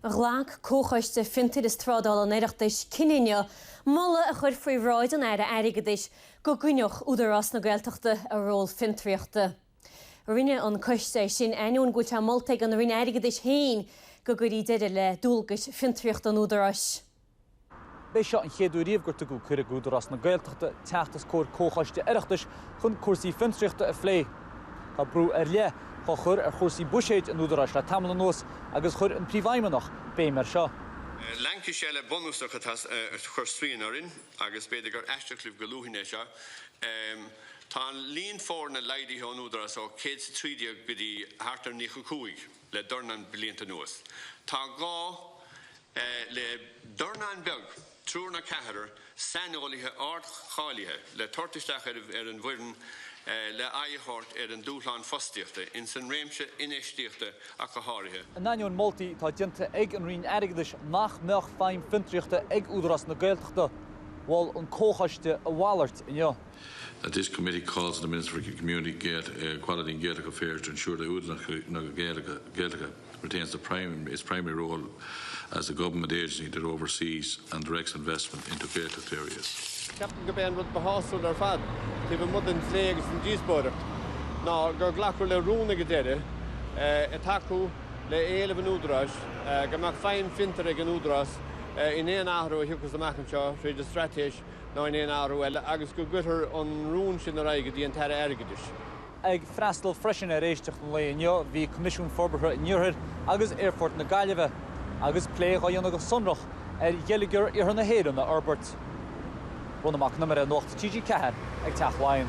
Ghlac Comhchoiste Fiontair is Trádála an Oireachtais cinneadh inniu moladh a chur faoi bhráid an Aire Airgeadais go gcoinneodh Údarás na Gaeltachta a ról fiontraíochta. Rinne an coiste sin ainneoin go bhfuil sé molta ag an Roinn Airgeadais féin go gcuirí deireadh le dualgais fiontraíochta an Údaráis. B'é seo an chéad uair riamh gur tugadh cuireadh d'Údarás na Gaeltachta teacht os comhair comhchoiste Oireachtais chun cúrsaí fiontraíochta a phlé. Tá brú ar leith dhá chur ar chúrsaí buiséid an Údaráis le tamall anuas agus chuir an Príomhfheidhmeannach béim air seo. Laincis eile bunúsach atá ag cur straíon orainn, agus b'fhéidir gur aisteach libh go luafainn é seo, tá an líon foirne laghdaithe san Údarás ó 113 go dtí thart ar 95. le dornán blianta anuas. Tá gá le dornán beag, triúr nó ceathrar, saineolaithe ardcháilithe le tabhairt isteach ar an bhfoireann le aghaidh a thabhairt ar an dúshlán fostaíochta ins an réimse infheistíochta ach go háirithe. In ainneoin moltaí atá déanta ag an Roinn Airgeadais nach mbeadh feidhm fiontraíochta ag Údarás na Gaeltachta, mhol an Comhchoiste a mhalairt inniu. that this committee calls on the Minister for Community, Equality and Gaeltacht Affairs to ensure that Údarás na Gaeltachta retains the prime, its primary role as a government agency that oversees and directs investment into Gaeltacht areas. Ceapaim gurb é an rud ba shásúla ar fad, taobh amuigh den phlé agus an díospóireacht, ná gur glacadh le rún ag an deireadh ag tacú le éileamh an Údaráis go mbeadh feidhm fiontair ag an Údarás in aon athrú a thiocfas amach anseo tríd an Straitéis ná in aon athrú eile agus go gcuirtear an rún sin ar aghaidh go dtí an tAire Airgeadais. Ag freastal freisin ar éisteacht an lae inniu bhí Coimisiún Forbartha an Iarthair agus Aerfort na Gaillimhe agus plé dhá dhéanamh go sonrach ar gheilleagar iarthar na hÉireann a fhorbairt. Ronán Mac an Iomaire, Nuacht TG4 ag Teach Laighean.